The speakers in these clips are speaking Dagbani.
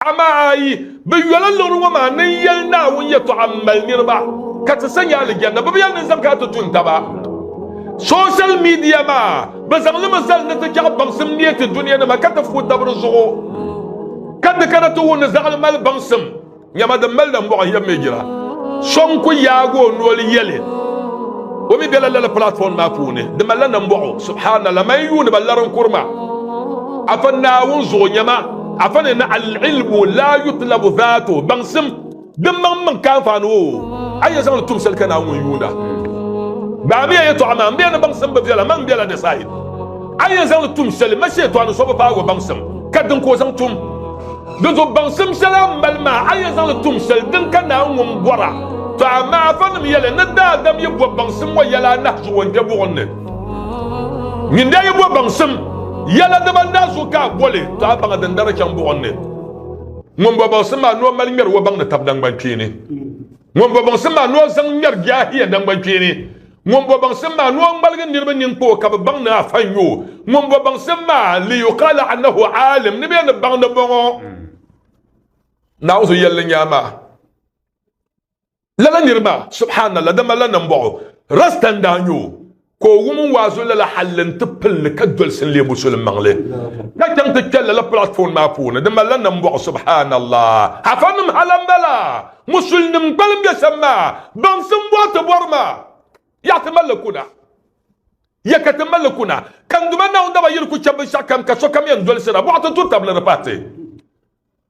Amaa yi bi yoli liɣiri ŋɔ maa ni n yɛli Naawuni yɛtɔɣa m mali niriba ka ti sa nyɛ alijanna bɛ bi yɛli ninzam ka ti tun taba. Social media maa bɛ zaŋ li mi zali ni ti chaɣi baŋsim neei ti dunianima ka ti fuhi tab di zuɣu ka di kana ti wum ni zaɣili mali baŋsim nyama din mali nambɔɣu yɛm mi jira. So n ku yaagi o noli yɛli o mi bela lala platform maa puuni di malila nambɔɣu subhanallah man yuuniba lari n kuri ma afa Naawuni zuɣu nyama Afa ni na al-ilmu la yutlabu dhatu, baŋsim din maŋ maŋ ka anfaani o, a yi zaŋli tum shɛli ka Naawuni ŋun yuunda. Gbaamiya yɛtɔɣa maa, M bɛ ya ni baŋsim bi viɛla, man m-bela ni said. A yɛn zaŋli tum shɛli, ma Shɛtɔɣu ni so bi paag o baŋsim, ka din ka o zaŋ tum. Di zuɣu baŋsim shɛli a ni mali maa, a yɛn zaŋli tum shɛli din ka Naawuni ŋun bɔra. Tɔ! Amaa afanim yɛli, Ni daadam yi bɔb baŋsim ŋɔ yɛla anahi zuɣu o ni kpe buɣim ni. Ŋun daa yi bo baŋsim yɛla dibani daa zuɣu ka a boli to a baŋa din dari chaŋ buɣim ni. Ŋun bo baŋsim maa ni o mali ŋmɛri o baŋ ni tab nangbankpeeni. Ŋun bo baŋsim maa ni o zaŋ ŋmɛri biɛhiya nangbankpeeni. Ŋun bo baŋsim maa ni o ŋmaligi niriba ninkpoo ka bɛ baŋ ni afa n-yo. Ŋun bo baŋsim maa liyuqala annahu aalim ni bɛ ni baŋ ni bɔŋɔ Naawuni so yɛlli n-nyɛ a maa. Lala niri maa, subhanallah, di malila nambɔɣu. Rasta n-daa nyɛ o, ka o wum n waazu lala halli nti pili li ka dolisi n-leei musulim maŋli, ka chaŋ ti kpe lala platform maa puuni. Di malila nambɔɣu, subhanallah. Afanim ha lan bala, musulinim kpalim be shɛm maa, baŋsim bɔri ti bɔri maa, Yaɣi ti mali li kuna, ya ka ti mali li kuna, ka Duuma Naawuni daba yiri ku chɛ binshɛɣukam ka sokam yɛn dolisira, bɔɣa ti turi tab li di pahi ti.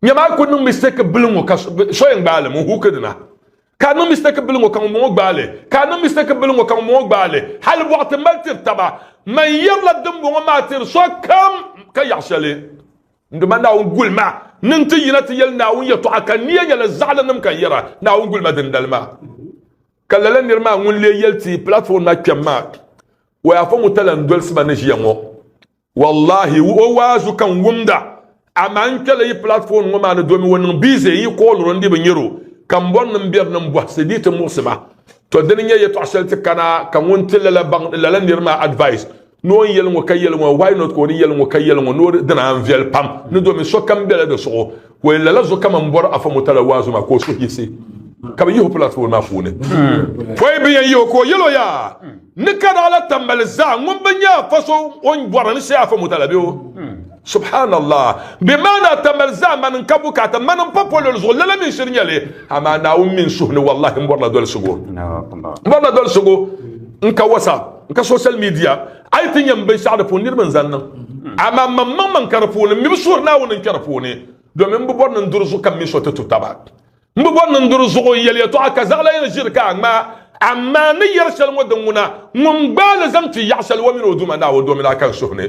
Nya maa ku niŋ mistake bili ŋɔ ka so yɛn gbaali ŋun huuki dina. Ka niŋ mistake bili ŋɔ ka ŋun bɔŋɔ gbaali. Ka niŋ mistake bili ŋɔ ka ŋun bɔŋɔ gbaali. Hali bɔɣu ti mali tiri taba. Man yɛrila dimbɔŋɔ maa tiri sokam ka yaɣi shɛli. N Duuma Naawuni gulima niŋ ti yina ti yɛli Naawuni yɛtɔɣa ka niya nyɛla zaɣilinim ka yɛra Naawuni gulima dindali maa. Ka lala niri maa ŋun lee yɛli ti platform na kpɛm maa, Wayaafa ŋun ta lan dolsi ma ni ʒiya ŋɔ. Wallahi o waazu ka n wumda amaa n kpɛla yi platform ŋɔ maa ni domi o niŋ busy n yi call o n di bi nyari o ka m bɔri ni m beri ni m bɔhisi bee ti muɣisi ma. To dini n-nyɛ yɛtɔɣ shɛli ti kana ka ŋun ti lala baŋ lala nir maa advice ni o ni yɛli ŋɔ ka yɛli ŋɔ why not ka o ni yɛli ŋɔ ka yɛli ŋɔ ni o di dina n viɛli pam ni domi sokam bela di suɣu Ka o yɛn lala zuɣu kaman bɔri Afa Murtala waazu maa ka o suhu yiɣisi ka bɛ yihi o platform maa puuni. Pɔi bɛ yɛn yihi o ka o yɛl o yaa ni ka daa la tambali zaa ŋun bi nya Afa so o ni bɔri ni shee Afa Murtala be o. Subhaanallah! Bɛ maa ni a tambali zaa mani n ka bukaata mani m pa polol zuɣu lala mi shiri nya li amaa Naawuni mi n suhu ni wallahi m bɔrila dolsigu. M bɔrila dolsigu n ka WhatsApp n ka social media. A yi ti nyam binshɛɣu di puuni, niriba n-zan niŋ. Amaa mam maŋ maŋ ka di puuni, m mi bi suhiri Naawuni n-kpe di puuni, domin m bi bɔri ni n duri zuɣu ka m mini so ti tu taba. M bi bɔri ni n duri zuɣu n-yɛli yɛtɔɣa ka zaɣila yɛn ʒiri ka a ŋmaa. Amaa n ni yɛri shɛli ŋɔ din ŋuna, ŋun gbaai li zaŋ kpi yaɣ shɛli o mini o Duuma Naawuni domin a kan suhu ni.